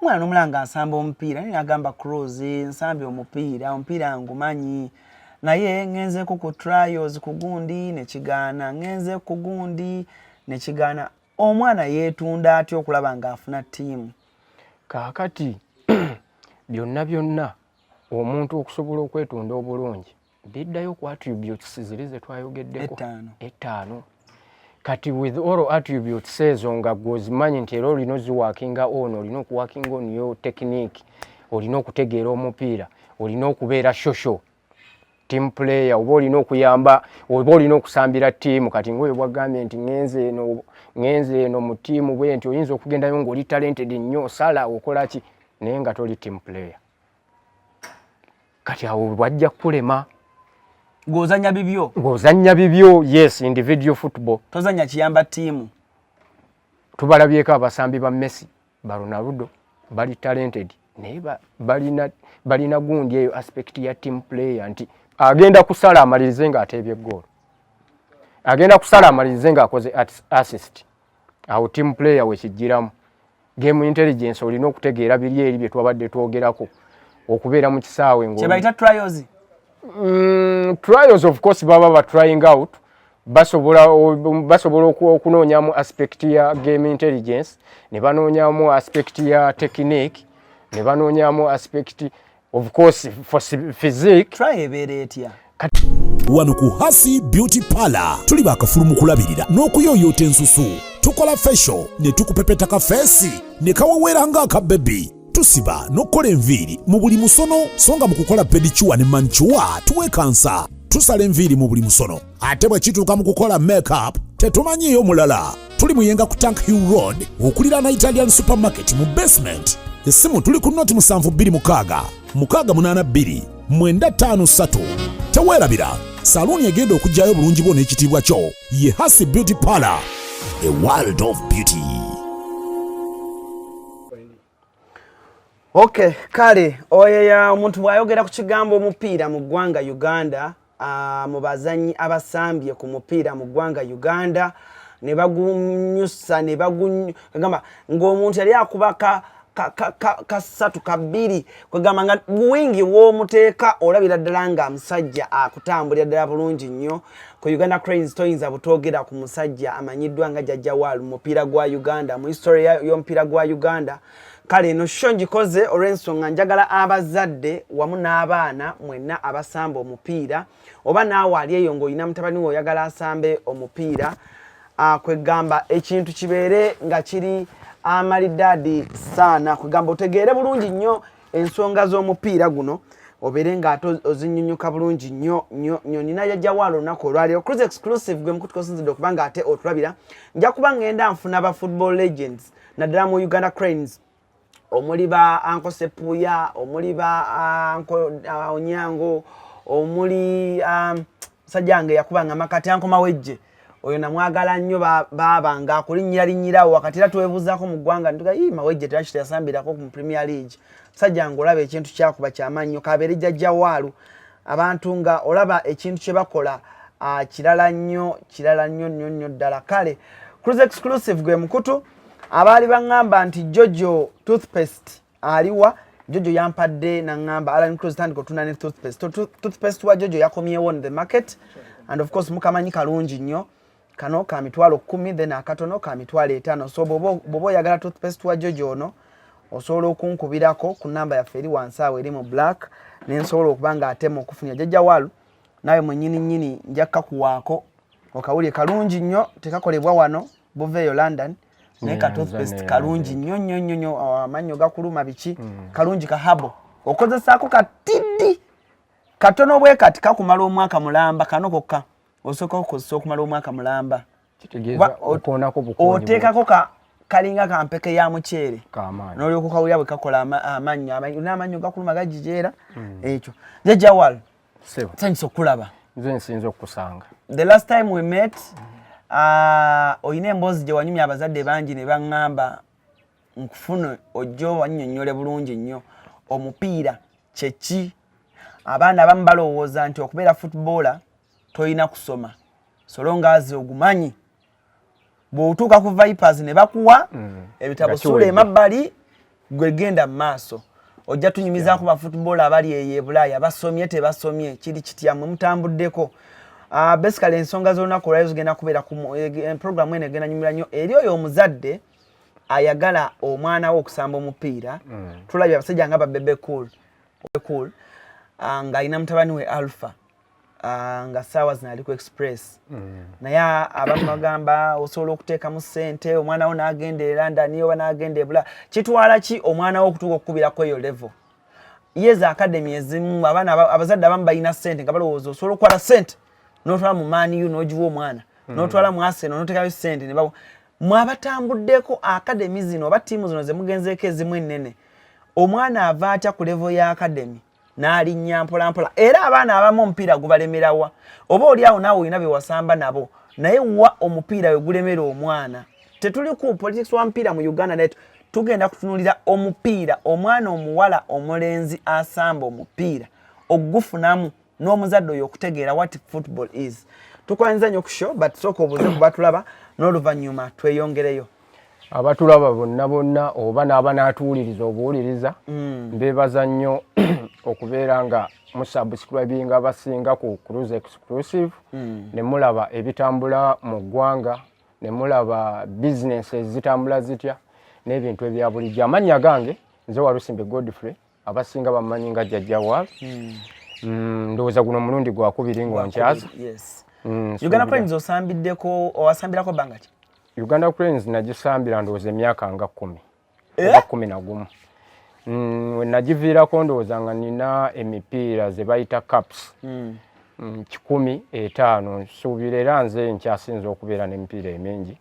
omwana nomulanga nsamba omupiira naye nagamba cross nsambye omupiira omupiira ngumanyi naye ngenzeku ku trials kugundi nekigaana ngenze kugundi nekigaana omwana yetunda atya okulaba nga afuna tiimu kakati byonna byonna omuntu okusobola okwetunda obulungi biddayo ku attributes ziri zetwayogeddeko ettaano kati with all attributes ezo nga gwozimanyi nti era olina oziwakinga ono olina okuwakinga oniyo technique olina okutegeera omupiira olina okubeera shosho team player oba olina okuyamba oba olina okusambira tiimu kati ngaoyo bwagambye nti ngenze eno ngenze eno mu tiimu bwe nti oyinza okugendayo ngaoli talented nnyo sala okolaki naye nga toli team player kati awo bwajja kulema ngozanya bibyo ngozanya bibyo yes individual football tozanya kiyamba tiimu tubalabyeko abasambi ba messi ba ronaldo bali talented naye balina balina gundi eyo aspect ya team player nti agenda kusala amalirize nga ateebye goolo agenda kusala amalirize nga akoze assist awo team player wekijjiramu game intelligence olina okutegeera biri eri bye twabadde twogerako okubeera mu kisaawe ngkyebayita trials mm, trials of course baba ba trying out basobola basobola okunoonyamu aspect ya game intelligence ne banoonyamu aspect ya technique ne banoonyamu aspect of course for physique try ebeera etya wano ku hasi beauty parlor tuli bakafulu mu kulabirira n'okuyoyoota ensusu tukola fesho ne tukupepeta ka feesi ne kawoweera ng'aka bebi tusiba n'okukola enviiri mu buli musono so nga mu kukola pedicuwa ne mancuwa tuwekansa tusala enviiri mu buli musono ate bwe kituuka mu kukola makeup tetumanyiiyo mulala tuli muyenga ku tank hill road okuliraana italian supermarket mu basement essimu tuli ku noti 72 682 953 teweerabira saluuni egenda okugyayo obulungi bwo n'ekitiibwa kyo ye hasi beauty parlor a world of beauty Okay, kale oyo ya omuntu bwayogera ku kigambo omupiira mu ggwanga Uganda uh, mu bazanyi abasambye ku mupiira mu ggwanga Uganda ne bagunyusa ne bagamba ng'omuntu yali akuba ka kasatu ka, ka, ka kabiri kwegamba nga buwingi w'omuteeka olabira ddala nga musajja akutambulira ddala bulungi nnyo ku uganda cranes toyinza butwogera ku musajja amanyiddwa nga jajja wal mupiira gwa uganda mu history y'omupiira gwa uganda kale eno sho ngikoze olw'ensonga njagala abazadde wamu n'abaana mwenna abasamba omupiira oba naawe ali eyo ng'olina mutabani we oyagala asambe omupiira ah, kwegamba ekintu kibeere nga kiri amalidaadi saana kwegamba otegeere bulungi nnyo ensonga z'omupiira guno obeere ng'ate ozinyunyuka bulungi nnyo nnyo nnyo nina yajjawo alo olunaku olwaleero cruz exclusive gwe mukutuka osinzidde okuba nga ate otulabira nja kuba ng'enda nfuna ba football legends naddala mu uganda cranes omuli ba anko sepuya omuli ba anko uh, onyango omuli um, musajja wange yakuba nga makati ankomawejje oyo namwagala nnyo baaba nga akulinyira linyirawo wakati era twebuuzaako mu ggwanga ntuga ii mawejje teraki teyasambirako mu premier league musajja nga olaba ekintu kyakuba kyamaanyi nyo kabeere jajja waalu abantu nga olaba ekintu kye bakola kirala nnyo kirala nnyo nnyo nnyo ddala kale cruise exclusive gwe mukutu abaali baŋŋamba nti jojo toothpaste aliwa jojo yampadde nangamba alan cross tandika otunda ne toothpaste toothpaste wa jojo yakomyewo on the market and of course mukamanyi kalungi nnyo kano ka mitwalo kumi then akatono ka mitwalo etaano so bwoba oyagala toothpaste wa jojo ono osobola okunkubirako ku namba yaffe eri wansi awo eri mu black nensobola okuba nga atema okufunya jajja walu nawe mwenyini nyini njakka kuwaako okawulire kalungi nnyo tekakolebwa wano buveeyo london naye ka toothpaste kalungi nnyo nnyo nnyo nnyo oh, amannyo gakuluma biki hmm. kalungi ka habo okozesaako katiddi katono bwe kati kakumala omwaka mulamba kano kokka osooka okukozesa okumala omwaka mulamba oteekako ka kalinga kampeke ya muceere nolyoka kawulira bwe kakola amannyo n'amannyo gakuluma gajijeera hmm. ekyo jajawal Sebo. Thanks okulaba. Nze nsinze okusanga. The last time we met uh, oyina emboozi gye wanyumya abazadde bangi ne baŋŋamba nkufune ojja wannyonnyole bulungi nnyo omupiira kyeki abaana abamu balowooza nti okubeera footballer tolina kusoma solongazi ogumanyi bwotuuka ku vipers ne bakuwa mm. ebitabo sula emabbali gwe genda mu maaso ojja tunyumizaako yeah. bafootball abali eyo ebulaaya basomye tebasomye kiri kitya mwe mutambuddeko uh, ah, basically ensonga z'olunaku olwayo zigenda kubeera ku eh, eh, programu eno egenda nyumira nnyo eri oyo omuzadde ayagala omwana we okusamba omupiira mm. tulabye abasajja nga babebe cool, cool. Uh, ah, ng'alina mutabani we alpha Ah, nga saawa zino ali ku express mm. naye abamu bagamba osobola okuteekamu ssente omwana wo n'agenda e london oba n'agenda ebula kitwala ki omwana wo okutuuka okukubirako eyo level yeeza akademi ezimu abaana abazadde abamu balina ssente nga balowooza osobola okukwata ssente n'otwala mu maaniyu n'ogiwa omwana mm. n'otwala mu aseno n'oteekayo ssente ne mwabatambuddeko akademi zino oba ttiimu zino ze mugenzeeko ezimu ennene omwana ava atya ku level ya akademi n'alinnya mpolampola era abaana abamu omupiira gubalemerawa oba oli awo naawe olina bewasamba nabo naye wa omupiira we gulemera omwana tetuli ku politics wa mupiira mu uganda naye tugenda kutunulira omupiira omwana omuwala omulenzi asamba omupiira okugufunamu n'omuzadde oyo okutegeera what football is tukwanyiza nyo ku show but sooka obuze kubatulaba n'oluvannyuma tweyongereyo abatulaba bonna bonna oba n'abanaatuwuliriza obuwuliriza mm. mbeebaza nnyo okubeera nga musubscribinga abasinga ku cruise exclusive mm. ne mulaba ebitambula mu ggwanga ne mulaba bizinensi ezitambula zitya n'ebintu ebya bulijjo amannya gange nze walusimbe godfrey abasinga bamanyi nga jjajja waal mm. mm, ndowooza guno omulundi gwakubiri ng'onkyaza mm, uganda pines osambiddeko owasambirako banga ki Uganda Cranes nagisambira ndowooza emyaka nga kumi eh? oba kumi na gumu mm, nagiviirako ndowooza nga nina emipiira ze bayita caps hmm. mm, kikumi etaano nsuubira era nze nkyasinza okubeera n'emipiira emingi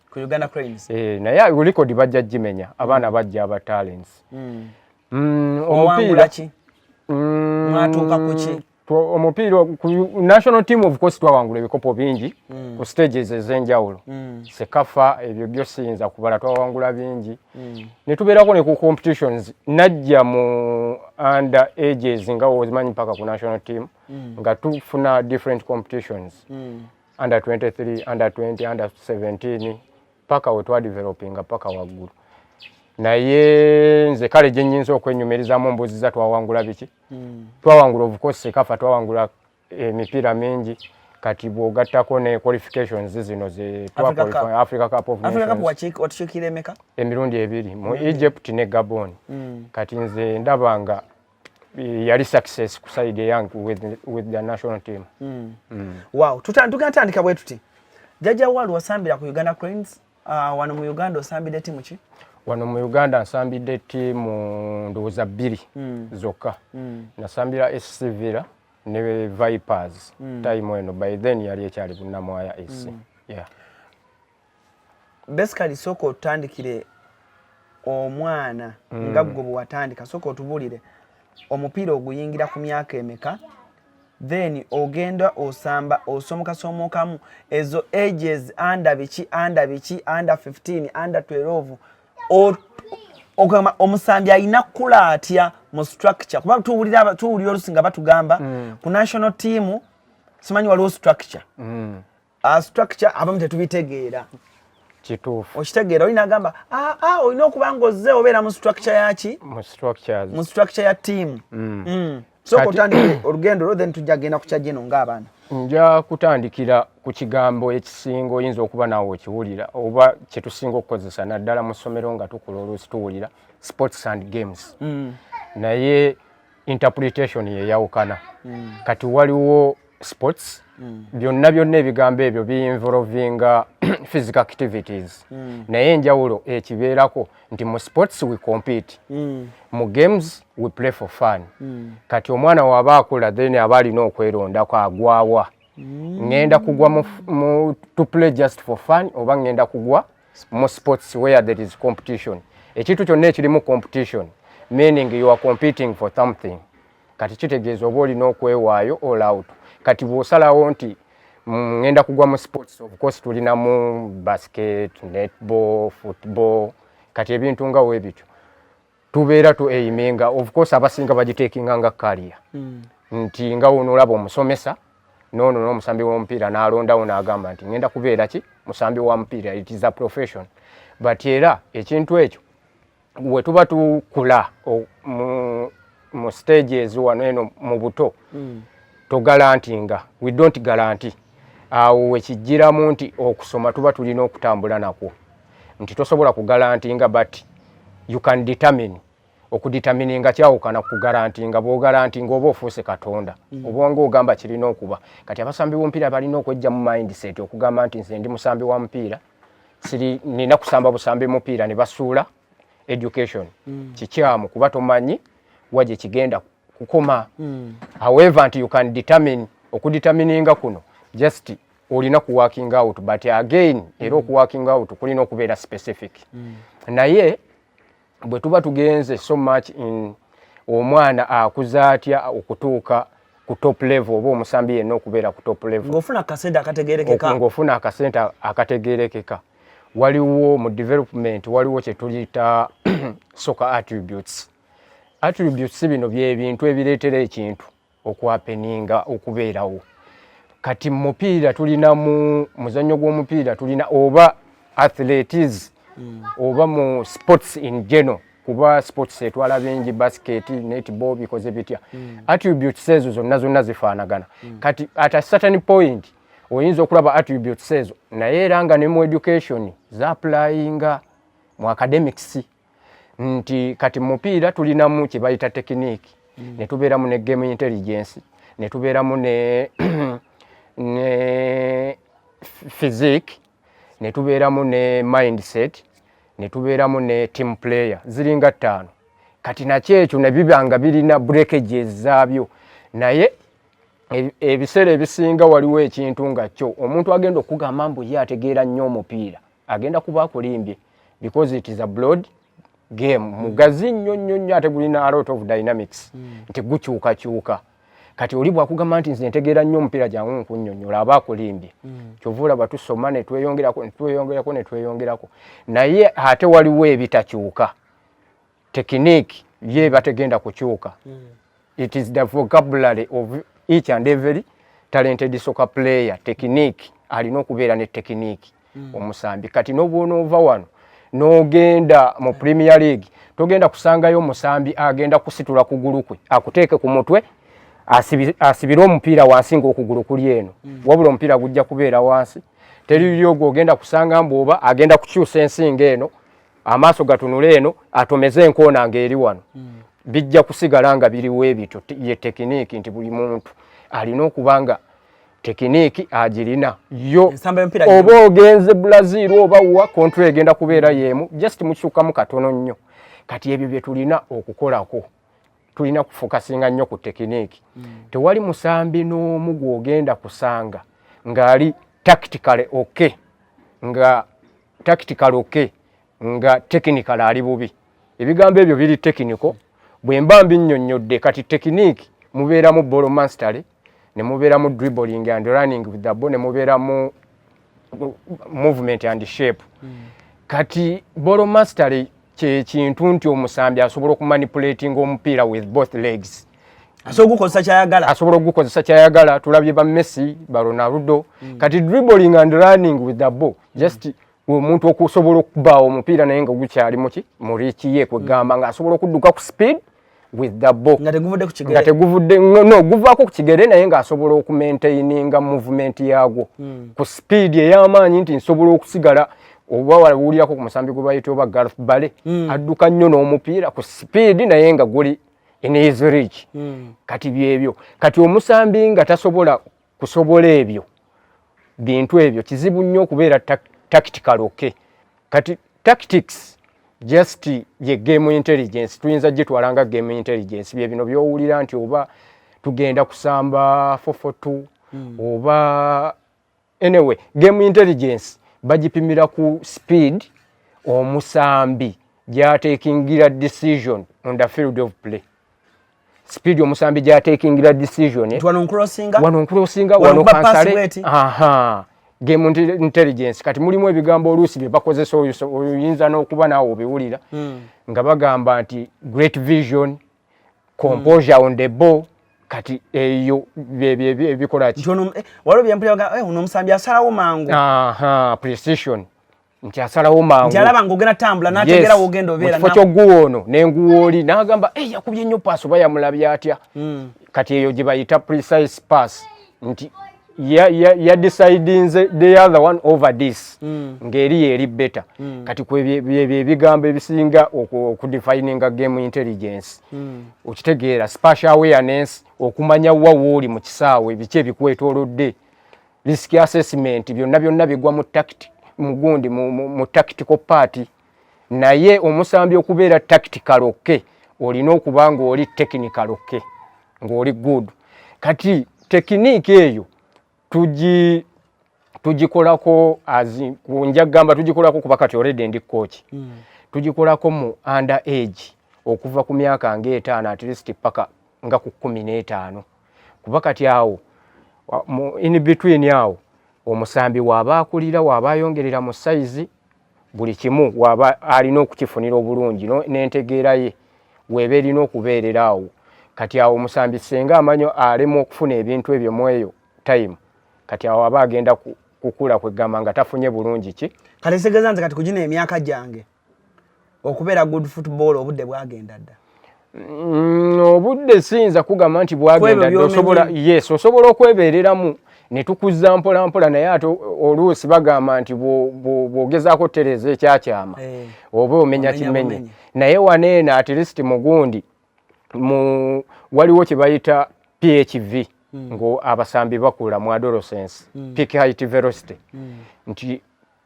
eh, naye ulikodi bajja gimenya abaana bajja aba talents hmm. mm, omupiira mwatuuka kuki omupiira ku national team of course twawangula ebikopo bingi mm. ku stages ez'enjawulo mm. sekafa ebyo byo siyinza kubala twawangula bingi mm. ne tubeerako ne ku competitions najja mu under ages nga wozimanyi mpaka ku national team mm. nga tufuna different competitions mm. under 23 under 20 under 17 paka we twadevelopinga paka waggulu naye nze kale gye nnyinza okwenyumirizamu mbuuziza twawangula biki mm. twawangula ovuko sekafa twawangula emipiira eh, mingi kati bwogattako ne qualifications zino ze africa cup of nationsemeka emirundi ebiri mu mm. egypt ne gabon mm. kati nze ndaba nga eh, yali success ku side eyange with, with the national team mm. Mm. wow tugatandika bwe tuti jajja walu wasambira ku uganda cranes Uh, wano mu Uganda osambidde timu ki? Wano mu Uganda nsambidde timu ndowooza bbiri mm. zokka. Mm. Nasambira SC Villa ne Vipers mm. time eno by then yali ekyali Bunnamwaya SC. Mm. Yeah. Basically soko otandikire omwana mm. nga gwe bwewatandika soko otubulire omupiira oguyingira ku myaka emeka then ogenda osamba osomoka somokamu ezo ages under biki under biki under 15 under 12 or ogamba omusambi alina kukula atya mu structure kuba tuwulira tuwulira olusinga batugamba mm. ku national team simanyi waliwo structure mm. uh, structure abamu tetubitegeera kituufu okitegeera olina agamba ah, ah, olina okuba nga ozze obeera mu structure yaki mu structure ya tiimu mm. mm. soka otandike olugendo lwo then tujja kugenda kukya gino ng'abaana nja kutandikira ku kigambo ekisinga oyinza okuba naawe okiwulira oba kyetusinga okukozesa naddala mu ssomero nga tukula oluusi tuwulira sports and games mm. naye interpretation yeyawukana mm. kati waliwo sports mm. byonna byonna ebigambo ebyo biinvolvinga physical activities mm. naye enjawulo ekibeerako nti mu sports we compete mm. mu games we play for fun mm. kati omwana waba akula then aba alina okwerondako agwawa mm. ngenda kugwa mu, mu, to play just for fun oba ngenda kugwa more sports where there is competition ekintu kyonna ekirimu competition meaning you are competing for something kati kitegeeza oba olina okwewaayo all out kati bw'osalawo nti mm, ngenda kugwa mu sports of course tulinamu basket netball football kati ebintu nga webityo tubeera tu eimenga of course abasinga bagiteekinga nga kaliya hmm. nti nga wono olaba omusomesa noono n'omusambi w'omupiira n'alondawo n'agamba nti ngenda kubeera ki musambi wa mupiira it is a profession but era ekintu ekyo we tuba tukula mu stage ezo wano eno mu buto hmm. togalanti nga we don't galanti awo wekijjiramu nti okusoma tuba tulina okutambula nakwo nti tosobola kugalantinga but you can determine okuditamininga kyawukana kugarantinga bwogarantinga oba ofuuse katonda mm. obwonga ogamba kirina okuba kati abasambi bomupiira balina okwejja mu mindset okugamba nti nze ndi musambi wa mupiira siri nina kusamba busambi mupiira ne basuula education mm. kikyamu kuba tomanyi wa gye kigenda kukoma mm. however nti you can determine okuditamininga kuno just olina ku working out but again mm. era oku working out kulina okubeera specific mm. naye bwe tuba tugenze so much in omwana akuza atya okutuuka ku top level oba omusambi yenna okubeera ku top level ng'ofuna akasente akategerekeka ng'ofuna akasente akategerekeka waliwo mu development waliwo kye tuyita soccer attributes attributes bino byebintu ebireetera ekintu okwapeninga okubeerawo kati mupiira tulina mu muzannyo gw'omupiira tulina oba athletes mm. oba mu sports in general kuba sports etwala bingi basket netball bikoze bitya mm. attributes ezo zonna zonna zifaanagana mm. kati at a certain point oyinza okulaba attributes ezo naye era nga ne mu education zaaplayinga mu academics nti kati mupiira tulinamu kye bayita tekiniki mm. ne tubeeramu ne game intelligence ne tubeeramu ne ne physique ne tubeeramu ne mindset ne tubeeramu ne team player ziringa ttaano kati nakyo ekyo ne biba nga birina breakages zaabyo naye e, ebiseera ebisinga waliwo ekintu nga kyo omuntu agenda okugamba mbu ye ategeera nnyo omupiira agenda kuba akulimbye because it is a blood game hmm. mugazi nnyo nnyo nnyo ate gulina a lot of dynamics hmm. nti gukyukakyuka kati oli bwakugamba nti nze ntegeera nnyo omupiira gyangu nkunyonyola aba akulimbye hmm. kyova olaba tusoma netweyongerako netweyongerako netweyongerako naye ate waliwo ebitakyuka technique ye bategenda kukyuka mm. it is the vocabulary of each and every talented soccer player technique alina okubeera ne technique mm. omusambi kati nobwonoova wano nogenda mu premier league togenda kusangayo omusambi agenda kusitula kugulu kwe akuteeke ku mutwe asibire omupiira wansi ngaokugulu kuli eno mm. wabula omupiira gujja kubeera wansi teri lyogwo ogenda kusanga mbu oba agenda kukyusa ensinga eno amaaso gatunula eno atomeze enkoona ng'eri wano hmm. bijja kusigala nga biriwo ebityo ye tekiniiki nti buli muntu alina okuba nga tekiniiki agirina yo oba ogenze brazil oba wa kontro egenda kubeera yeemu just mukikyukamu katono nnyo kati ebyo bye tulina okukolako tulina kufokasinga nnyo ku tekiniiki hmm. tewali musambi n'omu gw'ogenda kusanga ng'ali tactically okay nga tactical okay nga technical ali bubi ebigambo ebyo biri technical bwe mba mbinnyonnyodde kati tekiniki mubeeramu bolo mastery ne mubeeramu dribbling and running with the ball ne mubeeramu movement and shape mm. kati bolo mastery kyekintu nti omusambi asobola okumanipulating omupiira with both legs asobola okugukozesa kyayagala asobola okugukozesa kyayagala tulabye ba messi ba ronaldo mm. kati dribbling and running with the ball just omuntu okusobola okubaawo omupiira naye nga gukyali muki murikiye kwegamba nga asobola okudduka ku speed with the ball nga teguvudde ku kigere nga teguvudde no guvaako ku kigere naye nga asobola okumaintaininga movement yaagwo hmm. ku speed ey'amaanyi nti nsobola okusigala oba wawulirako ku musambi gwe bayita oba garth bale hmm. adduka nnyo n'omupiira ku speed naye nga guli in his reach hmm. kati byebyo kati omusambi nga tasobola kusobola ebyo bintu ebyo kizibu nnyo okubeera tactical okay kati tactics just ye game intelligence tuyinza gitwala nga game intelligence bye bino byowulira nti oba tugenda kusamba 442 mm. oba anyway game intelligence bagipimira ku speed omusambi gyatekingira decision on the field of play speed omusambi gya taking the decision wano nkrosinga wano nkrosinga wano kansale aha game intelligence kati mulimu ebigambo oluusi bye bakozesa oyinza n'okuba naawe obiwulira hmm. nga bagamba nti great vision composure mm. on the ball kati eyo byebikolaki eh, waliwo byempulira eh, uno omusambi asalawo mangu precision nti asalawo mangu nti alaba ng'ogenda tambula n'ategeera w'ogenda obeera mu kifo ky'oguwa ono n'enguwa oli n'agamba eyi yakubye nnyo paasi oba yamulabye atya hmm. kati eyo gye bayita precise pass nti yadisidinze the other one over this mm. ngeri yeri beta mm. kati kwebigambo ebisinga okudefininga game intelligence mm. okitegeera spatial awareness okumanya wa wooli mu kisaawe biki ebikwetolodde risk assessment byonna byonna bigwa mu tactic mugundi mu, mu, mu tactical party naye omusambi okubeera tactical okke olina okuba ng'oli technical okke ng'oli good kati tekiniiki eyo tugi tugikolako nja gamba tugikolako kuba kati oredi ndi kooki hmm. tugikolako mu under age okuva ku myaka ngaetaano at least paka nga ku kumi n'etaano kuba kati awo in between awo omusambi waaba akulira waaba ayongerera mu sayizi buli kimu waaba alina okukifunira obulungi n'entegeera ye weeba erina okubeerera awo kati awo omusambi senga amanyo alemu okufuna ebintu ebyo mu eyo time kati awo aba agenda kukula kwegamba nga tafunye bulungi ki kale segeza nze kati kugina emyaka gyange okubeera good football obudde bwagenda dda mm, obudde siyinza kugamba nti bwagenda dda osobola yes osobola okwebeereramu ne tukuzza mpola mpola naye ate oluusi bagamba nti bw'ogezaako otereeza ekyakyama eh. oba omenya kimenye naye waneeno at least mugundi mu waliwo kye bayita phv hmm. ng'abasambi bakula mu adolescence hmm. peak height velocity hmm. nti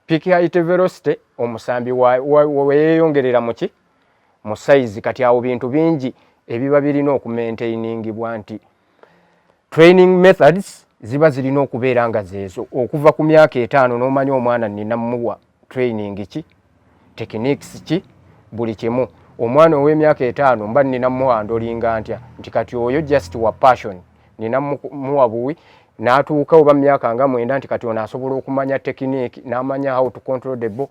Peak height velocity omusambi weyeyongerera muki mu size kati awo bintu bingi ebiba birina okumaintainingibwa nti training methods ziba zirina okubeera nga zeezo okuva ku myaka etaano n'omanya omwana nina muwa training ki techniques ki buli kimu omwana ow'emyaka etaano mba nina muwa ndolinga ntya nti kati oyo just wa passion nina muwa buwi natuuka oba myaka nga mwenda nti kati ono asobola okumanya tekiniki namanya how to control the ball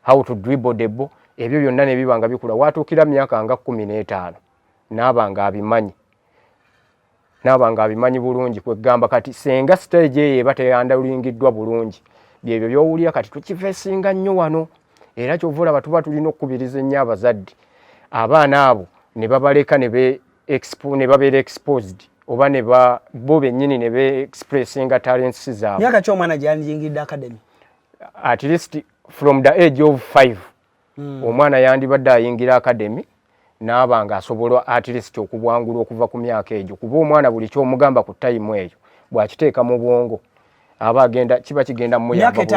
how to dribble the ball ebyo byonna nebiba nga bikula watuukira myaka nga kumi n'etaano naaba nga abimanyi naaba nga abimanyi bulungi kwegamba kati senga stage eyo eba teyandalingiddwa bulungi byebyo byowulira kati tukifesinga nnyo wano era kyova olaba tuba tulina okukubiriza ennyo abazadde abaana abo ne babaleka ne expo ne babeera exposed oba ne ba bo bennyini ne be expressinga talents zaabwe myaka ki omwana gyeyandiyingidde academy at least from the age of five mm. omwana yandibadde ayingira academy naaba nga asobola at least okubwangula okuva ku myaka egyo kuba omwana buli kyomugamba ku tayimu eyo bwakiteeka mu bwongo aba agenda kiba kigenda muyambaku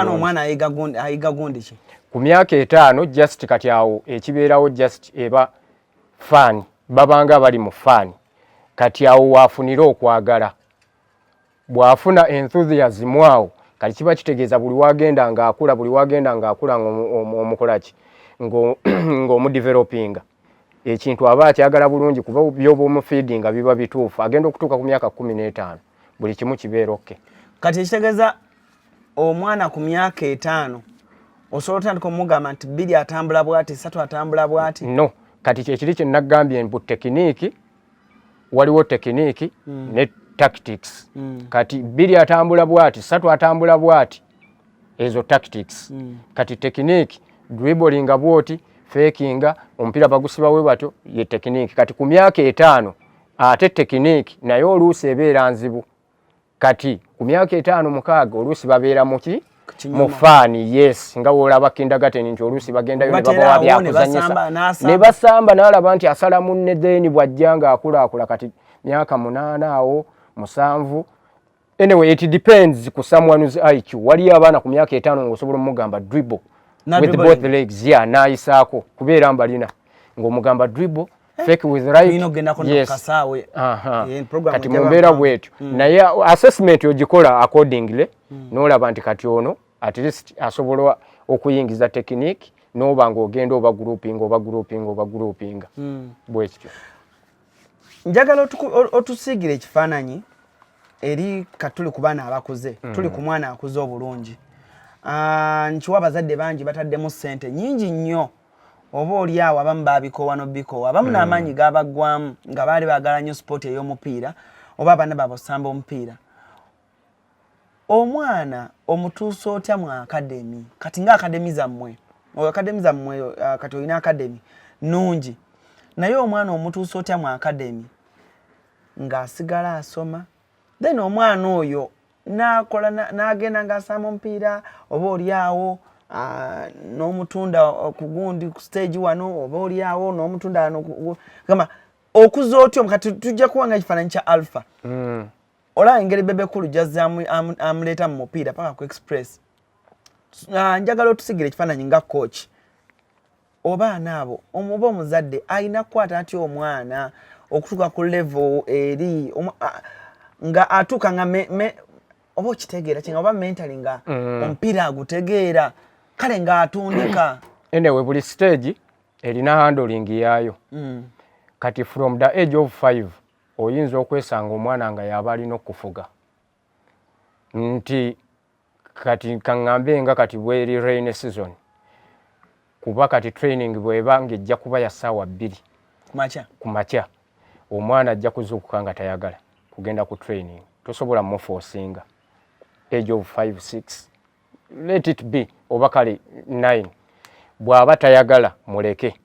myaka etaano just kati awo ekibeerawo just eba faani babanga bali mu faani kati awo waafunira okwagala bw'afuna enthusiasm awo kati kiba kitegeeza buli wagenda ng'akula buli wagenda ng'akula ng'omukolaki ng'omudevelopinga ekintu aba akyagala bulungi kuba byoba omufiidinga biba bituufu agenda okutuuka ku myaka kumi n'etaano buli kimu kibeera okke kati ekitegeeza omwana ku myaka etaano osobola otandika omugamba nti bbiri atambula bwati satu atambula bwati no kati kyekiri kyenagambye mbu tekiniiki waliwo tekiniiki mm. ne tactics mm. kati bbiri atambula bwati satu atambula bwati ezo tactics mm. kati tekiniiki dribolinga bwoti fekinga omupiira bagusiba we batyo ye tekiniiki kati ku myaka etaano ate tekiniiki naye oluusi ebeera nzibu kati ku myaka etaano mukaaga oluusi babeera muki mu faani yes nga wolaba kindagateni nti oluusi bagendayo ne babawa byakuzanyisa ne basamba n'alaba nti asala munne then bw'ajja ng'akulaakula kati myaka munaana awo musanvu anyway it depends ku someone's iq waliyo abaana ku myaka etaano ng'osobola omugamba dribble with both legs ya yeah, n'ayisaako kubeera mbalina ng'omugamba dribble Eh? kati mumbeera bwetyo hmm. naye assessment ogikola accordingly hmm. nolaba nti kati ono at least asobola okuyingiza tekiniki noba nga ogenda oba grouping oba grouping oba grouping hmm. bwekityo njagala otusiigira ekifaananyi eri katuli ku baana abakuze tuli ku mwana akuze obulungi ah, nkiwa abazadde bangi bataddemu sente nyingi nnyo oba oli awo abamu babikoowa nobikoowa abamu hmm. n'amaanyi gabaggwamu nga baali baagala nnyo sipooti ey'omupiira oba abaana baabwe okusamba omupiira omwana omutuusa otya mu akademi kati nga akademi zammwe oyo akademi zammwe uh, kati olina akademi nnungi naye omwana omutuusa otya mu akademi ng'asigala asoma then omwana oyo nakola nagenda nga asama omupiira oba olyawo ah, nomutunda kugundi ku stage wano oba olyawo nomutunda wano gamba okuza otyo kati tujja kuwanga ekifaananyi kya alpha mm. olaba engeri bebekulu jazza amuleeta mu mupiira paka ku express ah, njagala otusigira ekifaananyi nga coach obaana abo omuba omuzadde alina kukwata atya omwana okutuuka ku level eri nga atuuka nga oba okitegeera kinga oba mentally nga mm. omupiira agutegeera kale nga atundika enewe buli stage erina handling yaayo mm. kati from the age of five oyinza okwesanga omwana nga yaba alina okufuga nti kati kaŋŋambe nga kati bweri rain season kuba kati training bweba ng'ejja kuba ya ssaawa bbiri ku makya omwana ajja kuzuukuka nga tayagala kugenda ku training tosobola mufosinga age of 5 6 let it be oba kale 9 bw'aba tayagala muleke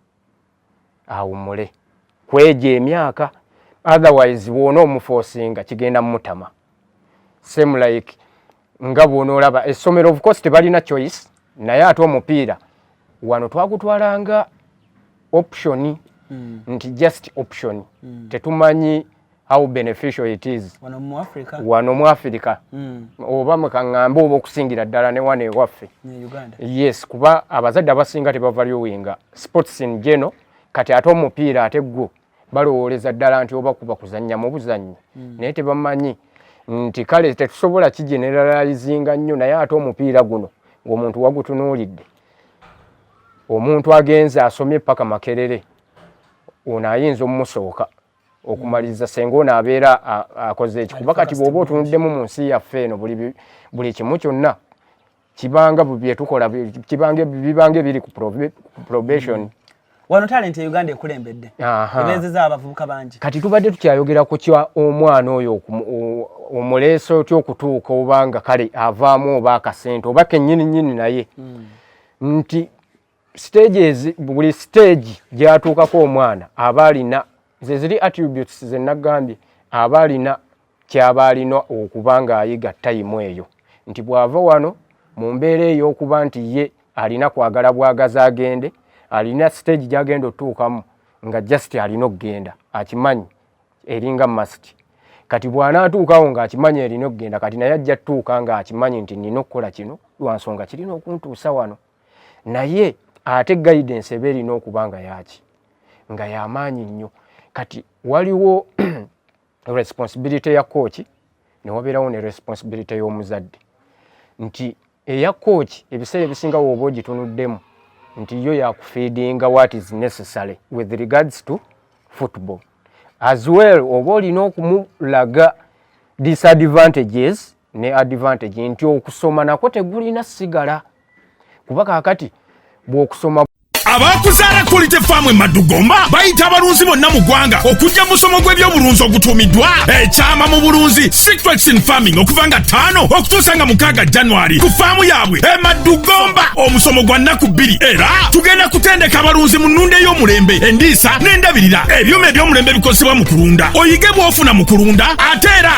awumule kwejo emyaka otherwise bwona omufosinga kigenda mumutama same like nga bwona olaba essomero of course tebalina choice naye ate omupiira wano twagutwalanga option mm. nti just option mm. tetumanyi how beneficial it is wano mu Africa, wano mu Africa. Mm. oba mukaŋŋambe oba okusingira ddala ne wano ewaffe yes kuba abazadde abasinga tebavalyowinga sports in geno kati ate omupiira ate gwo balowooleza ddala nti oba kuba kuzannya mu buzannyi mm. naye tebamanyi nti kale tetusobola kigeneralizinga nnyo naye ate omupiira guno ng'omuntu wagutunuulidde omuntu agenze asomye paka makerere ono ayinza omusooka okumaliriza senga ono abeera akoze eki kuba kati bwoba otunuddemu mu nsi yaffe eno buli kimu kyonna kibanga byetukola bibanga ebiri ku probation mm. wano talenti e uganda ekulembedde ebezeza abavubuka bangi kati tubadde tukyayogera ku kya omwana oyo omuleesa otya okutuuka obanga kale avaamu oba akasente oba kenyini nyini naye mm. nti stages buli stage gyatuukako omwana aba alina zeziri attributes zenagambye aba alina kyaba alina okuba ng'ayiga tayimu eyo nti bw'ava wano mu mbeera ey'okuba nti ye alina kwagala bwagaza agende alina stage gyagenda otuukamu nga just alina okugenda akimanyi eringa masti kati bw'anaatuukawo ng'akimanyi erina okugenda kati naye ajja tuuka ng'akimanyi nti nina okukola kino lwa nsonga kirina okuntuusa wano naye ate guidance eba erina okuba nga yaki nga yamaanyi nnyo kati waliwo responsibility ya kooki newabeerawo ne responsibility y'omuzadde nti eya kooki ebiseera ebisinga wooba ogitunuddemu nti yo yakufeedinga what is necessary with regards to football as well oba olina okumulaga disadvantages ne advantage nti okusoma nako tegulina sigala kuba kakati bwokusoma abakuzaala quality farm emadugomba bayita abalunzi bonna mu ggwanga okujja musomo gw'ebyobulunzi ogutuumiddwa ekyama mu bulunzi secretion farming okuva nga ttaano okutuusa nga mukaaga january ku faamu yaabwe emadugomba omusomo gwa nnaku bbiri era tugenda kutendeka abalunzi mu nnunda ey'omulembe endiisa n'endabirira ebyuma eby'omulembe bikozesebwa mu kulunda oyige bw'ofuna mu kulunda ate era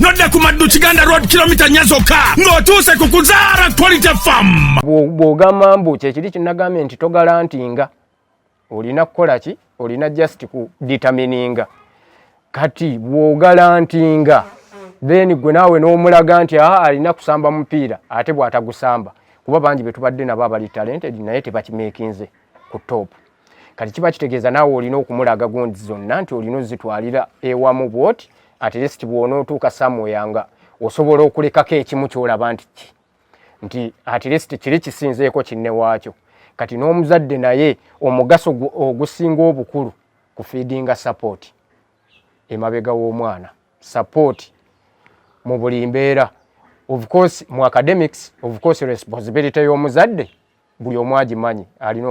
nodda ku maddu kiganda road kilomita nya zokka ng'otuuse ku kuzaara quality fam bw'ogamba mbu kyekiri kinagambye nti togalantinga olina kukola ki olina just ku determininga kati bw'ogalantinga then gwe naawe n'omulaga nti aa alina kusamba mupiira ate bw'atagusamba kuba bangi be tubadde nabo abali talented naye tebakimekinze ku topu kati kiba kitegeeza naawe olina okumulaga gundi zonna nti olina ozitwalira ewamu bwoti at least bwonootuuka samuwea nga osobola okulekako ekimu kyolaba nti ki nti at least kiri kisinzeeko kinne waakyo kati n'omuzadde naye omugaso ogusinga obukulu ku fiidinga sapooti emabega w'omwana sapooti mu buli mbeera of course mu academics of course responsibility y'omuzadde buli omu agimanyi alina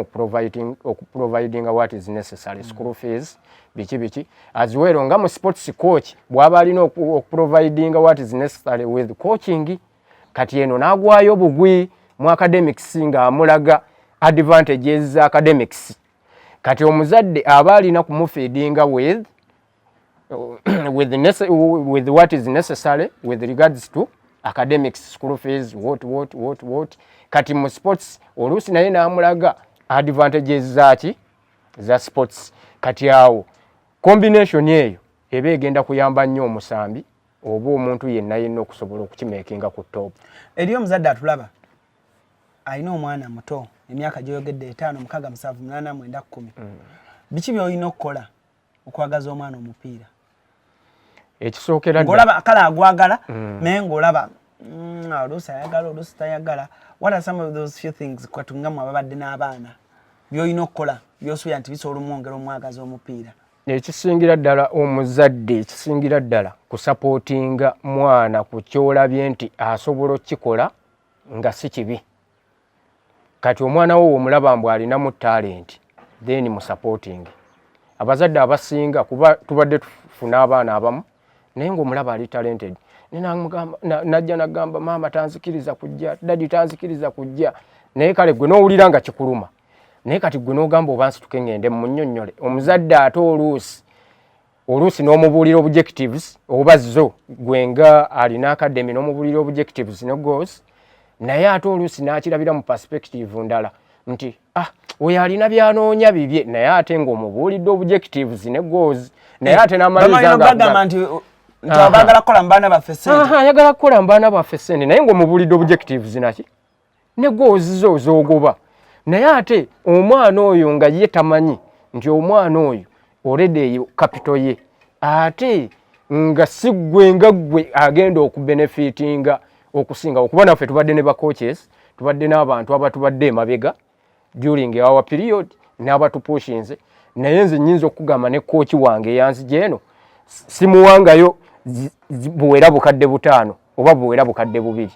okuprovidinga what is necessary mm. school fees biki biki as well nga mu sports coach bwaba alina okuprovidinga what is necessary with coaching kati eno nagwayo bugwi mu academics nga amulaga advantages za academics kati omuzadde aba alina kumufeedinga with with, the, with what is necessary with regards to academics school fees what what what what kati mu sports oluusi naye namulaga advantages zaki za sports kati awo combination eyo eba egenda kuyamba nnyo omusambi oba omuntu yenna yenna okusobola okukimekinga ku top eriyo omuzadde atulaba alina omwana muto emyaka gyoyogedde etaano mukaga musanvu munana mwenda kumi mm. biki byolina okukola okwagaza omwana omupiira ekisookera ngolaba kale agwagala mm. naye ngolaba mm, oluusi ayagala oluusi tayagala what are some of those few things kwatungamu ababadde n'abaana byolina okukola byosuubira nti bisobola omwongera omwagaza omupiira ekisingira ddala omuzadde ekisingira ddala kusapootinga mwana ku kyolabye nti asobola okukikola nga si kibi kati omwana wo womulaba mbu alinamu talenti then musupporting abazadde abasinga kuba tubadde tufuna abaana abamu naye ngaomulaba ali talented najja nagamba maama tanzikiriza kujja dadi tanzikiriza kujja naye kale gwe nowulira nga kikuluma naye kati gwe nogamba oba nsituke ngende munyonyole omuzadde ate oluusi oluusi n'omubuulira objectives oba zo gwe nga alina academy n'omubuulira objectives ne goals naye ate oluusi n'akirabira mu perspective ndala nti ah oyo alina byanoonya bibye naye ate ng'omubuulidde objectives ne goals naye ate n'amalizaagamba nti ayagala kukola mu baana baffe sente naye ng'omubuulidde objectives naki ne gwe oziza ozogoba naye ate omwana oyo nga ye tamanyi nti omwana oyo olede eyo kapito ye ate nga si ggwe nga ggwe agenda okubenefitinga okusinga okuba naffe tubadde ne bacoaches tubadde n'abantu abatubadde emabega during our period n'abatupushinze naye nze nyinza okugamba ne kooki wange eyanzija eno simuwangayo buwera bukadde butaano oba buwera bukadde bubiri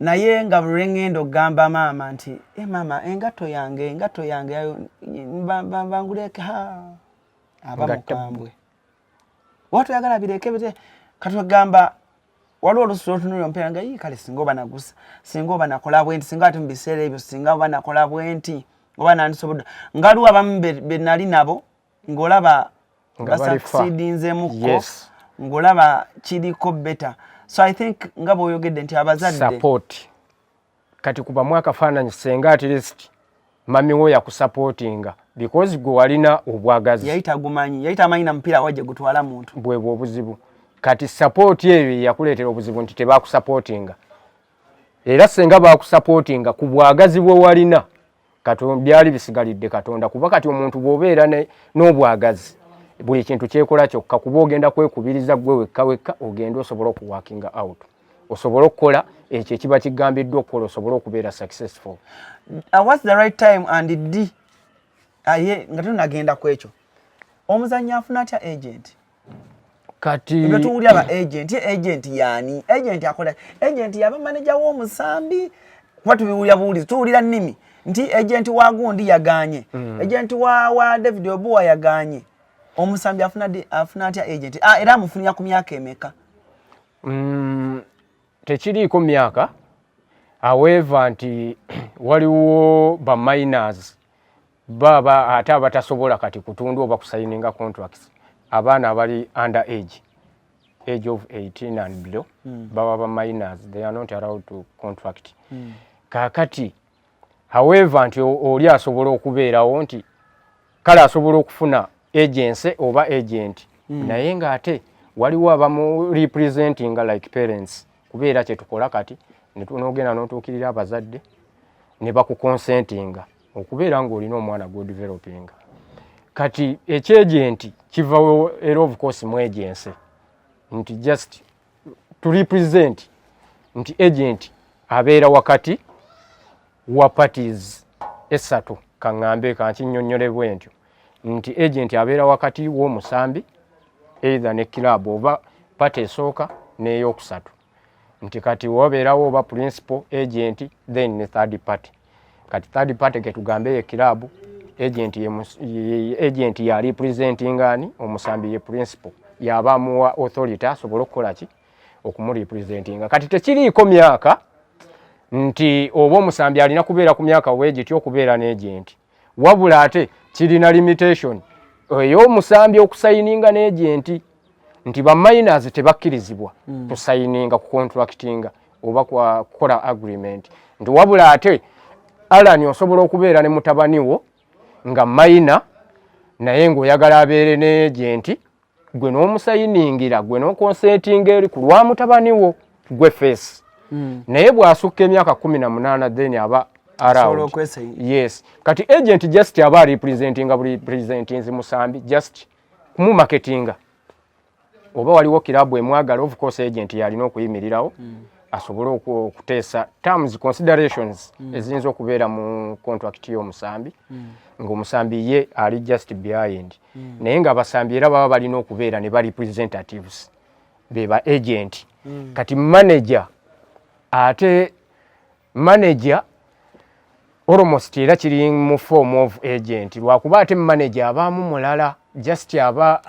naye nga buli lwengenda okugamba maama nti e maama engato yange engato yange banguleke ha aba mukambwe oba toyagala bireke bite katwegamba waliwo olusi lwotunulira omupiira nga yii kale singa oba nagusa singa oba nakola bwenti singa ati mu biseera ebyo singa oba nakola bwenti oba nandisobodde ngaliwo abamu benali nabo ng'olaba basakusiidinzemuko ng'olaba kiriko beta so i think nga bwoyogedde nti abazadde support kati kubamu akafaananyi senga at least mami wo yakusapootinga because gwe walina obwagazi yali tagumanyi yali tamanyi na mupiira wajje gutwala muntu bwebwe obuzibu kati sapooti eyo yakuleetera obuzibu nti tebakusapootinga era senga bakusapootinga ku bwagazi bwe walina katonda byali bisigalidde katonda kuba kati omuntu bwobeera n'obwagazi buli kintu kyekola kyokka kuba ogenda kwekubiriza gwe wekka wekka ogenda osobola okuwakinga out osobole okukola ekyo ekiba kigambiddwa okukola osobole okubeera successful uh, whats the right time and d aye nga tonagenda ku ekyo omuzannyi afuna atya agent kati nga tuwulira ba agent agent yani agent akola agent yaba manager w'omusambi kuba tubiwulira buwulizi tuwulira nnimi nti agent wa gundi yaganye mm. agent wa, wa david obuwa yaganye omusambi afuna afuna atya agent ah, era amufunira ku myaka emeka mm, tekiriiko myaka aweva nti waliwo ba miners Bo aba ate abatasobola kati kutundu oba kusayininga contracts abaana abali under age age of 18 and below mm. baba ba minors they are not allowed to contract mm. kakati however nti oli asobola okubeerawo nti kale asobola okufuna agency oba agent mm. naye nga ate waliwo abamu representing like parents kubeera kyetukola kati nogenda notuukirira abazadde ne bakukonsentinga okubeera ng'olina omwana gw'odivelopinga kati ekyejenti kiva era of course mu agency nti just to represent nti agent abeera wakati wa parties esatu kaŋŋambe kankinyonnyole bwentyo nti agent abeera wakati w'omusambi either ne club oba pati esooka n'eyokusatu nti kati wobeerawo oba principal agent then ne third party kati third party ketugambe ye kilabu agent ye agent ya representing ani omusambi ye principal yaba muwa authority asobola okukola ki okumurepresentinga kati tekiriiko myaka nti oba omusambi alina kubeera ku myaka wegitya okubeera n'agenti wabula ate kirina limitation ey'omusambi okusayininga n'egyenti nti baminers tebakkirizibwa hmm. kusayininga ku contractinga oba kukola agreement nti wabula ate alani osobola okubeera ne mutabani wo nga mayina naye ng'oyagala abeere n'egyenti gwe n'omusayiningira gwe n'okonsetinga eri ku lwa mutabani wo gwe feesi hmm. naye bw'asukka emyaka kumi na munaana then aba around yes kati agent just aba representinga buli presentinzi musambi just kumumaketinga oba waliwo kirabu emwagala of course agent yalina okuyimirirawo hmm. asobole okuteesa terms considerations hmm. eziyinza okubeera mu contract y'omusambi ngaomusambi ye ali just behind mm. mm. naye nga abasambi era baba balina okubeera ne ba representatives be ba agent mm. kati manager ate manager almost era kiri mu form of agent lwakuba ate manager abaamu mulala just aba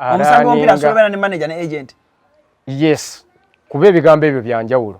yes kuba ebigambo ebyo byanjawulo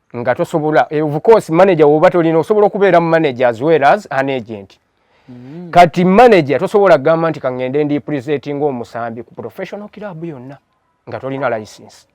nga tosobola eh, of course manager woba tolina osobola okubeera mu manager as well as an agent mm. kati manager tosobola kugamba nti kangende ndi presentinga omusambi ku professional club yonna nga tolina license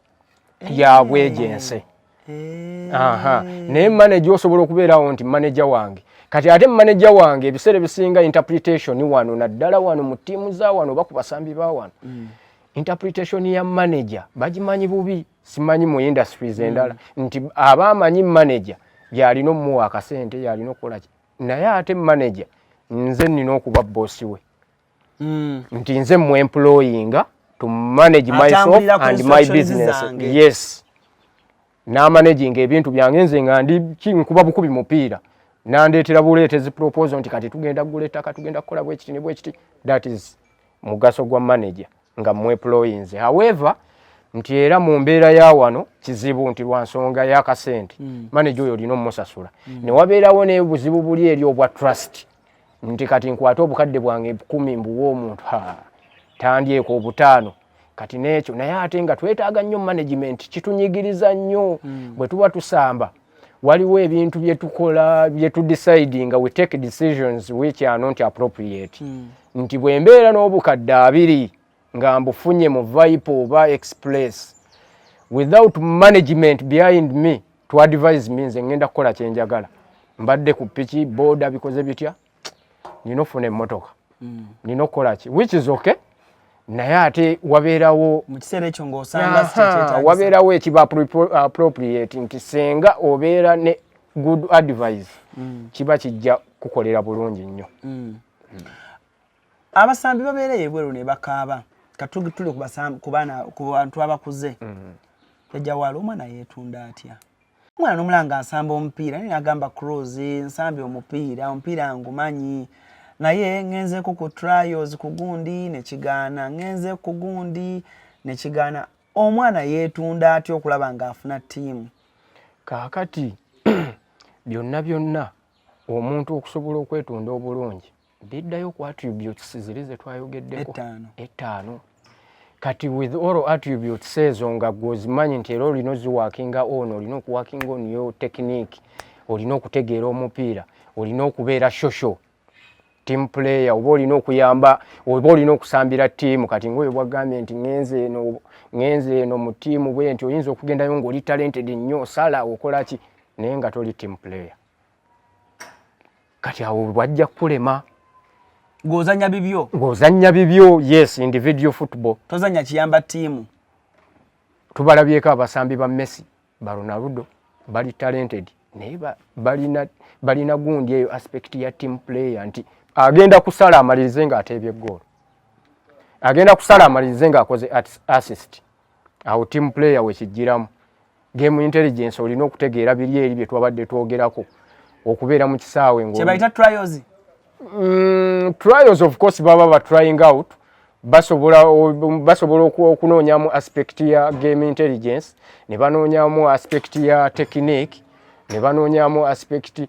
hey. Eh. ya bwegense hey. Eh. aha naye manager osobola okubeerawo nti manager wange kati ate manager wange ebiseera ebisinga interpretation wano naddala wano mu ttiimu za wano oba ku basambi ba wano mm. interpretation ya manager bagimanyi bubi simanyi mu industries mm. endala nti aba amanyi manager yalina omuwa akasente yalina okukola ki naye ate manager nze nina okuba boss we mm. nti nze mu employinga to manage myself and my business yes namanaginga ebintu byange nze nga ndi nkuba bukubi mupiira nandeetera buleetezi proposal nti kati tugenda kugula ettaka tugenda kukola bwekiti ne bwekiti that is mugaso gwa manager nga mweployinze however nti era mu mbeera ya wano kizibu nti lwa nsonga y'akasente mm. maneja oyo olina omusasula mm. ne wabeerawo n'obuzibu buli eri obwa trust nti kati nkwate obukadde bwange kumi mbuwa omuntu tandyeeko obutaano kati n'ekyo naye ate nga twetaaga nnyo management kitunyigiriza nnyo mm. bwe tuba tusamba waliwo ebintu byetukola byetudecide nga we take decisions which are not appropriate mm. nti bwembeera n'obukadde abiri nga mbufunye mu vipe oba express without management behind me to advise me nze ngenda kukola kyenjagala mbadde ku piki boda bikoze bitya nina ofuna emmotoka mm. nina okukola ki which is okay naye ate wabeerawo wabeerawo ekiba appropriate nti senga obeera ne good advice mm. kiba kijja kukolera bulungi nnyo mm. abasambi babeera ebweru ne bakaaba katugitule ku bantu abakuze mm. ejawala omwana yeetunda atya omwana nomulanga nsamba omupiira naye nagamba cruz nsambye omupiira omupiira ngumanyi naye ngenzeeko ku trials ku gundi nekigaana ngenze ku gundi nekigaana omwana yeetunda atya okulaba ng'afuna ttiimu kaakati byonna byonna omuntu okusobola okwetunda obulungi biddayo ku attributes ziri zetwayogeddeko ettaano kati with all attributes ezo nga gwozimanyi nti era olina oziwakinga on olina okuwakinga on yo technique olina okutegeera omupiira olina okubeera shosho team player oba olina okuyamba oba olina okusambira tiimu kati ngaoyo bwagambye nti ngenze eno ngenze eno mu tiimu bwe nti oyinza okugendayo ngaoli talented nnyo sala okolaki naye nga toli team player kati awo bwajja kulema ngozanya bibyo ngozanya bibyo yes individual football tozanya kiyamba timu tubalabyeko abasambi ba Messi ba Ronaldo bali talented naye balina balina gundi eyo aspect ya team player nti agenda kusala amalirize nga atebye goal agenda kusala amalirize nga akoze assist awo team player wekijiramu Game intelligence olina okutegeera biri eri bye twabadde twogerako okubeera mu kisaawe ngo kyebayita trials mm, trials of course baba ba trying out basobola basobola okunoonyamu aspect ya game intelligence ne banoonyamu aspect ya technique ne banoonyamu aspect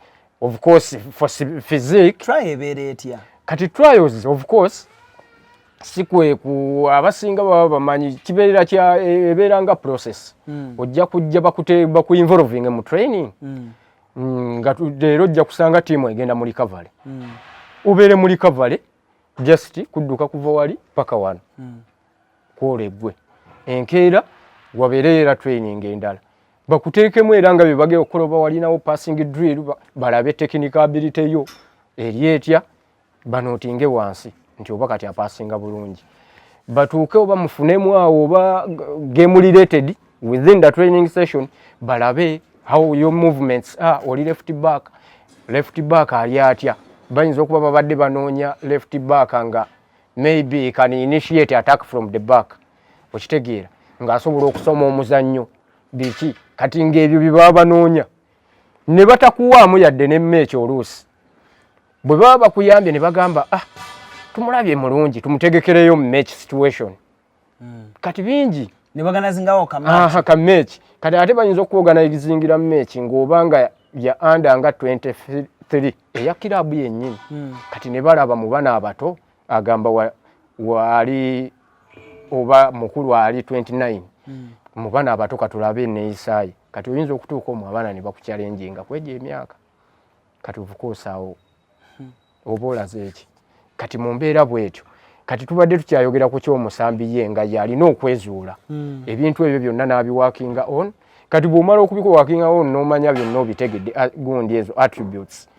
of course for physique try ebeera etya kati trials of course si kweku abasinga baba bamanyi kibeera kya e, ebeera nga process mm. ojja kujja bakute bakuinvolving mu training mm. mm nga leero ojja kusanga tiimu egenda mu recovery mm. ubeere mu recovery just kudduka kuva wali paka wano mm. kwola eggwe enkeera wabeereyo era training endala bakuteekemu era nga bebage okuloba walinawo passing drill balabe technical ability yo eri etya banootinge wansi nti oba kati apasinga bulungi batuuke oba mufunemu awo oba game related within the training session balabe how your movements are oli left back left back ali atya bayinza okuba babadde banoonya left back nga maybe can initiate attack from the back okitegeera ng'asobola okusoma omuzannyo biki kati ng'ebyo bye baba banoonya ne batakuwaamu yadde n'emmeekyo oluusi bwe baba bakuyambye ne bagamba ah tumulabye mulungi tumutegekereyo match situation hmm. kati bingi ne bagana zingawo ka match aha ka match kati ate bayinza okuwogana ebizingira match ng'oba nga ya anda nga 23 eya kirabu yennyini hmm. kati ne balaba mu bana abato agamba wa, wali oba mukulu ali 29 hmm. mu bana abato katulabe neyisaye kati oyinza okutuuka omu abaana ne bakukyalenjinga kwegyo emyaka kati ovukuusaawo hmm. oba olaze eki kati mu mbeera bwetyo kati tubadde tukyayogera ku kyomusambi ye nga yalina okwezuula hmm. ebintu ebyo byonna n'abiwakinga on kati bw'omala okubikowakinga on n'omanya byonna obitegedde ah, gundi ezo attributes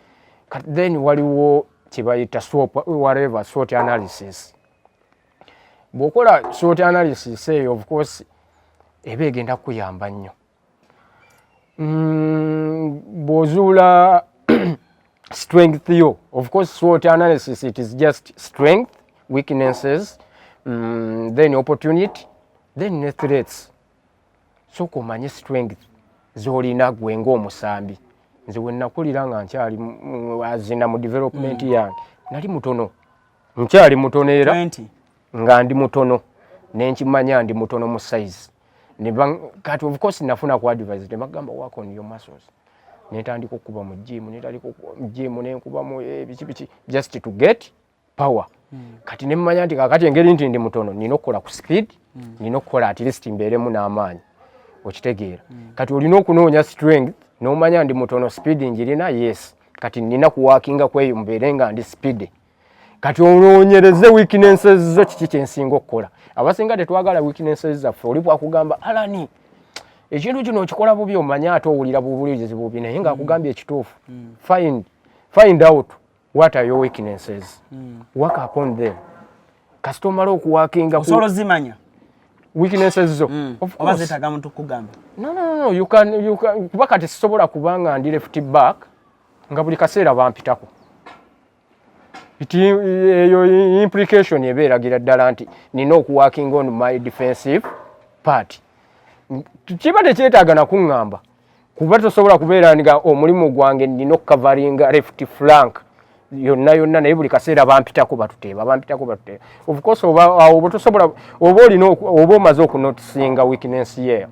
kati then waliwo kyebayita swop whatever sort analysis bw'okola sort analysis eyo of course eba egenda kukuyamba nnyo Mm, bw'ozuula strength yo of course SWOT analysis it is just strength weaknesses mm, then opportunity then ne threats sooka omanye strength z'olina gwe ng'omusambi nze we nakulira nga nkyali azina mu development mm. yange nali mutono nkyali mutono era nga ndi mutono nenkimanya ndi mutono mu size kati of course nafuna ku advise ne bagamba work on your muscles netandika okukuba mu jimu netandika jimu nenkuba mu eh, biki biki just to get power hmm. kati ne mmanya nti kakati engeri nti ndi mutono nina okukola ku speed hmm. nina okukola at least mbeeremu n'amaanyi okitegeera hmm. kati olina okunoonya strength n'omanya ndi mutono speed njirina yes kati nina kuwakinga kweyo mbeere nga ndi speed kati olwonyereze weaknesses zo kiki kyensinga okukola abasinga tetwagala weaknesses zaffe oli bwakugamba alani ekintu kino okikola bubi omanye ate owulira bubulizi bubi naye nga akugambye ekituufu mm. find, find out what are your weaknesses mm. work upon them kasita omala okuwakinga osobola ozimanya weaknesses zo mm. oba zetaga muntu kugamba no, no, no, you can, you can, kuba kati sisobola kubanga ndi left back nga buli kaseera bampitako kiti eyo implication eba eragira ddala nti nina okuwakinga on my defensive part kiba tekyetaaga nakuŋŋamba kuba tosobola kubeera nga omulimu gwange nina okukavaringa left flank yonna yonna naye buli kaseera bampitako batuteeba bampitako batuteeba ofcourse oba tosobola oba olina oba omaze okunotisinga weakness yeyo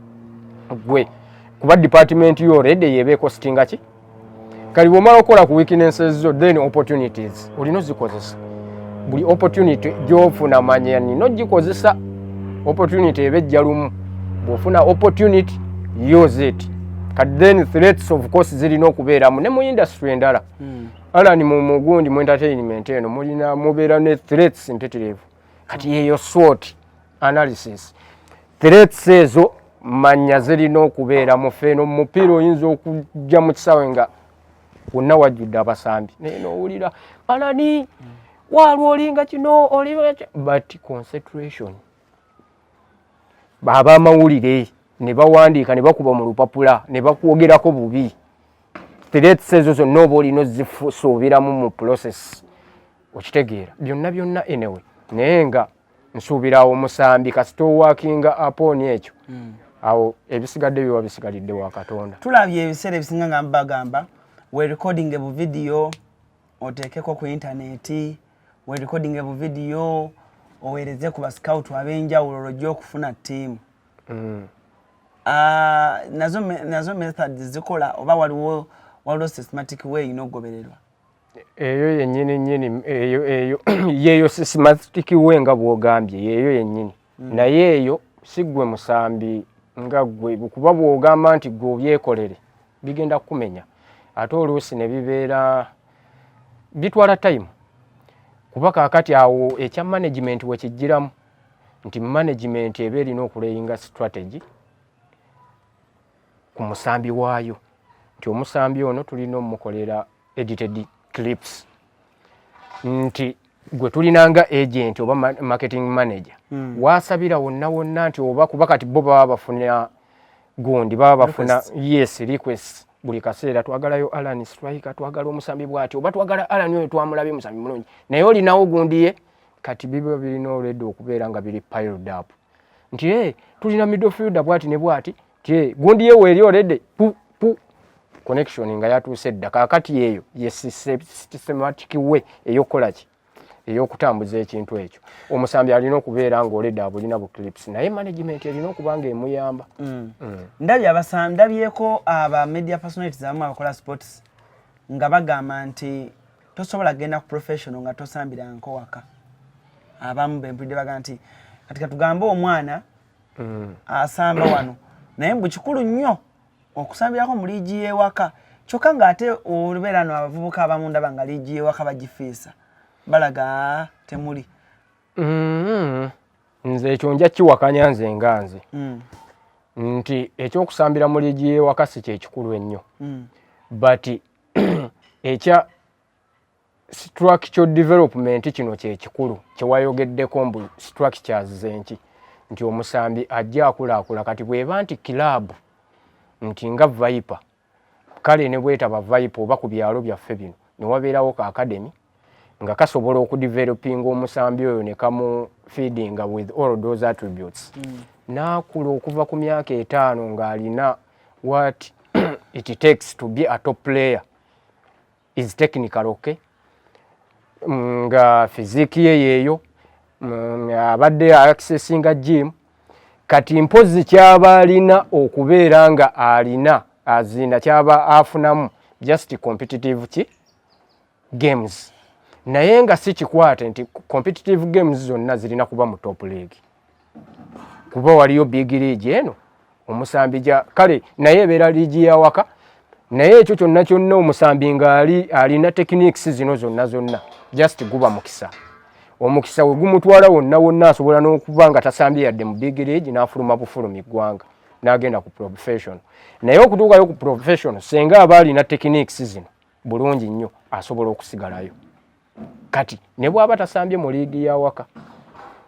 gwe kuba department yo redi yebeeko sitingaki kali bwomala okukola ku weaknesses zo then opportunities olina ozikozesa buli opportunity gyofuna manya nina ogikozesa opportunity eba ejja lumu bwofuna opportunity use it kati then threats of course zirina okubeeramu ne mu industry endala hmm. alani mu mugundi mu entertainment eno mulina mubeera ne threats mpitirivu kati yeyo swot analysis threats ezo manya zirina okubeera mufeeno mumupiira oyinza okujja mu kisaawe nga wonna wajjudde abasambi naye nowulira alani waalwo olinga kino olinga but concentration baaba amawulire ne bawandiika ne bakuba mu lupapula ne bakwogerako bubi threats ezo zonna oba olina ozisuubiramu mu process okitegeera byonna byonna enewe naye nga nsuubira awo omusambi kasita owakinga apooni ekyo hmm. awo ebisigadde biba bisigalidde wa katonda tulabye ebiseera ebisinga nga mbagamba we recording ebu vidiyo oteekeko ku intaneti we recording ebu vidiyo oweereze ku bascout ab'enjawulo lwojja okufuna ttiimu hmm. ah, nazo method zikola oba waliwo waliwo systematic way ina okugobererwa eyo yenyini nyini eyo eyo yeyo systematic we nga bwogambye yeyo yenyini mm. naye eyo sigwe musambi nga gwe kuba bwogamba nti gwe obyekolere bigenda kukumenya ate oluusi ne bibeera bitwala time kuba kakati awo ekya management wekijjiramu nti management eba erina okuleyinga strategy ku musambi waayo nti omusambi ono tulina omukolera edited clips nti gwe tulina nga agent oba marketing manager mm. wasabira wonna wonna nti oba kuba kati bo baba bafuna gundi baba bafuna yes request buli kaseera twagalayo alan strike twagala omusambi bwati oba twagala alan oyo twamulabye omusambi mulungi naye olinawo gundi ye kati biba birina olwedde okubeera nga biri piled up nti e tulina midfielder bwati ne bwati ti e gundi ye weri already pu pu connection nga yatuuse dda kakati eyo ye systematic way eyokukola ki eyokutambuza ekintu ekyo omusambi alina okubeera nga oleda abulina bu clips naye management erina okuba nga emuyamba mm. mm. ndabi abasambi ndabyeko aba media personalities abamu abakola sports nga bagamba nti tosobola genda ku professional nga tosambira nkowaka abamu bempulidde baga nti kati katugambe omwana mm. asamba wano naye mbu kikulu nnyo okusambirako mu liigi y'ewaka kyokka ng'ate olubeera no abavubuka abamu ndaba nga liigi y'ewaka bagifiisa balaga ah, temuli mm-hmm. nze ekyo nja kiwakanya nze nga nze mm. nti ekyokusambira mu liigi y'ewaka si kyekikulu ennyo mm. but ekya structural development kino kyekikulu kyewayogeddeko mbu structures zenki nti omusambi ajja akulaakula kati bweba nti kilabu nti nga viper kale ne bwetaba viper oba ku byalo byaffe bino newabeerawo ka academy nga kasobola okudevelopinga omusambi oyo nekamu feedinga with all those attributes mm. naakula okuva ku myaka etaano ng'alina what it takes to be a top player is technical okay mm, nga fiziki ye yeeyo mm, abadde accessinga gym kati mpozi kyaba alina okubeera nga alina azina kyaba afunamu just competitive ki games naye nga si kikwate nti competitive games zonna zirina kuba mu top league kuba waliyo big league eno omusambi ja kale naye ebeera liigi yawaka naye ekyo kyonna kyonna omusambi ngaali alina techniques zino zonna zonna just guba mukisa omukisa we gumutwala wonna wonna asobola n'okuba nga tasambye yadde mu big league n'afuluma bufulumi ggwanga n'agenda ku profession naye okutuukayo ku profession senga aba alina techniques zino bulungi nnyo asobola okusigalayo kati ne bwaba tasambye mu liigi yawaka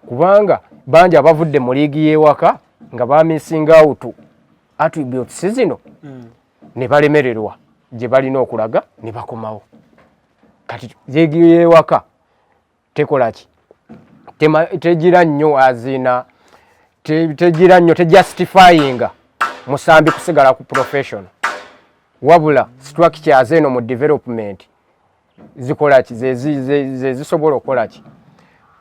kubanga bangi abavudde mu liigi yewaka nga bamisinga awutu attributes zino hmm. ne balemererwa gye balina okulaga ne bakomawo kati liigi yewaka tekola ki tegira nnyo azina tegira nnyo tejustifyinga musambi kusigala ku professional wabula structure aze eno mu development zikola ki zezisobola okukola ki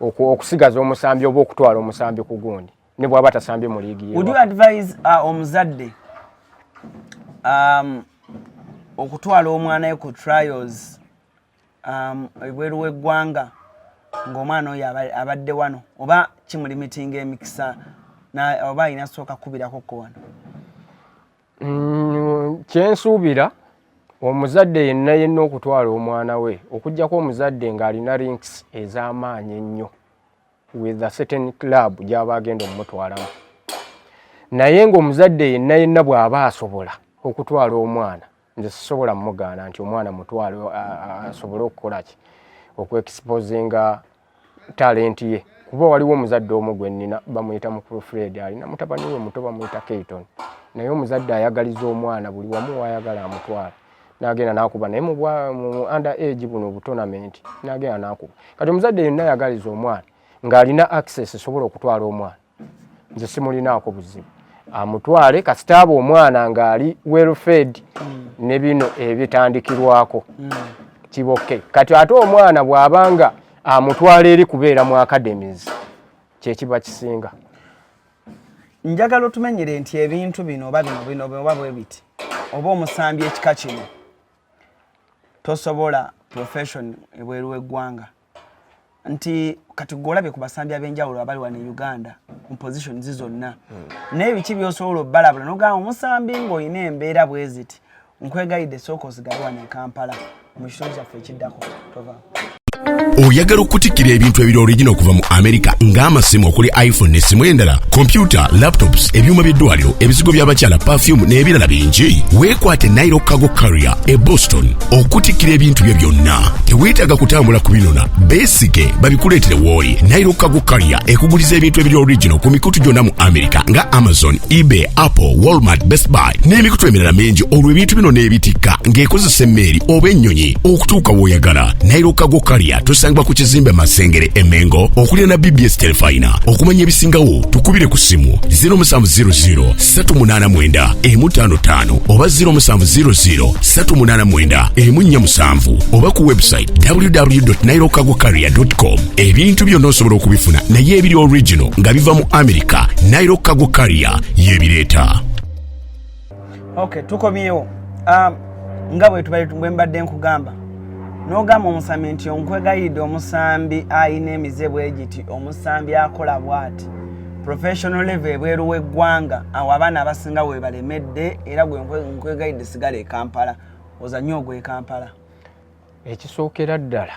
okusigaza omusambi oba okutwala omusambi ku gundi ne bwaba tasambye mu liigi ye. Would you advise uh, omuzadde um, okutwala omwana we ku trials um, ebweru w'eggwanga ng'omwana oyo abadde wano oba kimulimitinga emikisa oba alina sooka kukubirako ko wano mm, kyensuubira omuzadde yenna yenna okutwala omwana we okugyako omuzadde ng'alina links ez'amaanyi ennyo with a certain club gy'aba agenda omumutwalamu naye ng'omuzadde yenna yenna bw'aba asobola okutwala omwana nze sisobola mugaana nti omwana mutwale asobole okukola ki okuexposinga talenti ye kuba waliwo omuzadde omu gwe nnina bamuyita mukulu fred alina mutabani we muto bamuyita keyton naye omuzadde ayagaliza omwana buli wamu wayagala amutwala nagenda nakuba naye mu under age buno obutonamenti nagenda nakuba kati omuzadde yenna ayagaliza omwana ng'alina access esobola okutwala omwana nze simulinaako buzibu amutwale kasita aba omwana ng'ali welfed mm. ne bino ebitandikirwako mm. kiboke kati ate omwana bw'abanga amutwala eri kubeera mu academies kyekiba kisinga njagala otumenyere nti ebintu bino oba bino bino oba bwe biti oba omusambi ekika kino tosobola profession ebweru w'eggwanga nti kati gwe olabye ku basambi ab'enjawulo abali wano e uganda mu positions zonna hmm. naye biki byosobola obalabula nogamba omusambi ng'olina embeera bweziti nkwegayidde sooka osigale wano e kampala mu kitundu kyaffe ekiddako tova oyagala okutikkira ebintu ebiri origina okuva mu amerika ng'amasimu okuli iphone nesimu endala kompyuta laptops ebyuma by'eddwaliro ebizigo by'abakyala pafyumu n'ebirala bingi weekwate nairo cargo carrier e boston okutikkira ebintu byo byonna teweetaaga kutambula ku binona beesige babikuleetere wooli nairo kago kalya ekuguliza ebintu ebiri original ku mikutu gyonna mu america nga amazon ebay apple walmart best buy n'emikutu emirala mingi olwo ebintu bino n'ebitikka ng'ekozesa emmeeri oba ennyonyi okutuuka w'oyagala nairo kago kalya tusangibwa ku kizimbe masengere emengo okulira na bbs telefayina okumanya ebisingawo tukubire ku ssimu 0700 389 emu 55 oba 0700 389 emu 47 oba ku website www.nairocargocarrier.com ebintu byonna osobola okubifuna naye ebiri original nga biva mu america nairo cargo carrier yebireeta okay tukomyewo um, nga bwembadde nkugamba n'ogamba omusambi nti onkwegayidde omusambi alina emize bwe giti omusambi akola bwati professional level ebweru w'eggwanga awo abaana abasinga webalemedde era gwe nkwegayidde sigala ekampala ozanye ogwekampala ekisookera ddala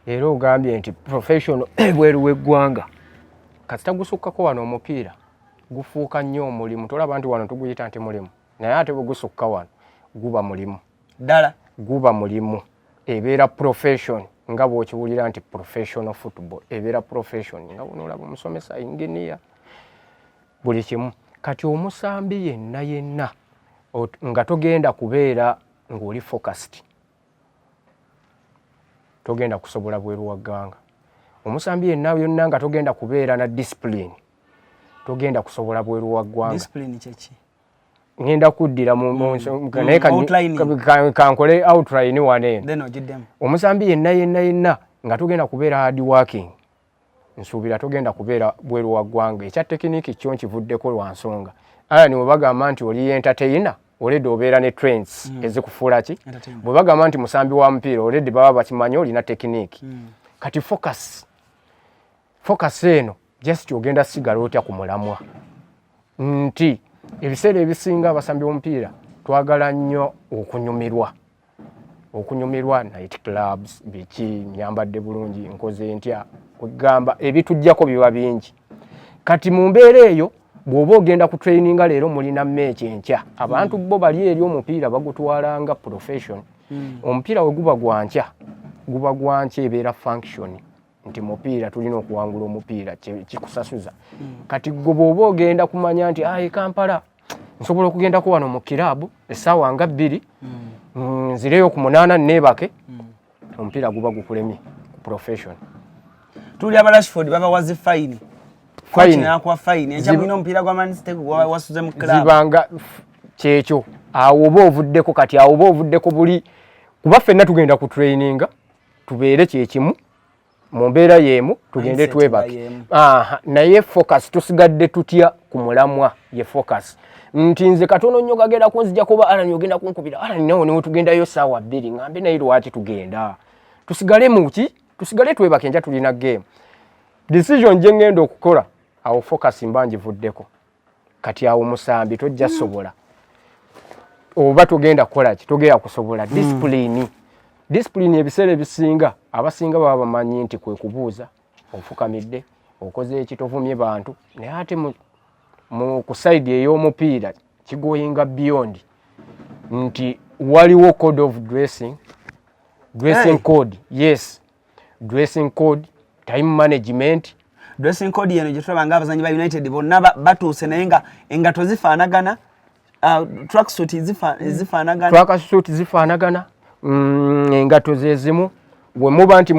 era ogambye nti professional ebweru w'eggwanga kasita gusukkako wano omupiira gufuuka nnyo omulimu tolaba nti wano tuguyita nti mulimu naye ate bwe gusukka wano guba mulimu ddala guba mulimu ebeera profession nga bwokiwulira nti professional football ebeera profession nga bunoolaba omusomesa engineer buli kimu kati omusambi yenna yenna nga togenda kubeera ng'oli focused togenda kusobola bweru wa ggwanga omusambi yenna yonna nga togenda kubeera na discipline togenda kusobola bweru wa ggwanga ngenda kuddira naye kankole outline wano eno omusambi yenna yenna yenna nga togenda kubeera hard working nsuubira togenda kubeera bweru wa ggwanga ekya tekiniki kyo nkivuddeko lwa nsonga alani bwe bagamba nti oli entertaina oledi obeera ne trends mm. ezikufuula ki bwe bagamba nti musambi wa mupiira oledi baba bakimanyi olina tekiniki mm. kati focus focus eno just ogenda sigala otya ku mulamwa nti ebiseera ebisinga abasambi b'omupiira twagala nnyo okunyumirwa okunyumirwa night clubs biki nyambadde bulungi nkoze ntya kwegamba ebitujjako biba bingi kati mu mbeera eyo bw'oba ogenda ku traininga leero mulina meeki enkya abantu bo bali eri omupiira bagutwala nga profession hmm. omupiira we guba gwa nkya guba gwa nkya ebeera function nti mupiira tulina okuwangula omupiira kikusasuza hmm. kati gwe bwoba ogenda kumanya nti ayi kampala nsobola okugendako wano mu kiraabu essaawa nga bbiri hmm. nzireyo ku munaana neebake hmm. omupiira guba gukulemye ku profession tuli aba rashford babawazi fayini fayininakuwa fayini enkyamulina omupiira gwa manstegwasuze mu kiraabu zibanga kyekyo awo oba ovuddeko kati awo oba ovuddeko buli kuba ffenna tugenda ku traininga tubeere kyekimu mu mbeera yeemu tugende twebake naye focus tusigadde tutya ku mulamwa ye focus nti nze katono nnyo gagenda kunzija kuba alani ogenda kunkubira alani nawe niwe tugendayo saawa bbiri ngambe naye lwaki tugenda tusigale muki tusigale twebake enja tulina game decision gye ngenda okukola awo focus mba ngivuddeko kati awo musambi tojja mm. sobola oba togenda kukola ki togenda kusobola mm. disipulini disipulini ebiseera ebisinga abasinga baba bamanyi nti kwe kubuuza ofukamidde okoze ekitovumye bantu naye ate mu kusaidi ey'omupiira kigoyinga beyond nti waliwo code of dressing dressing code yes dressing code time management dressing code yeno gyetulaba nga abazanyi ba united bonna batuuse naye nga engato zifaanagana uh, tracksuit mm. zifaanagana tracksuit zifaanagana mm, engato zezimu wemuba nti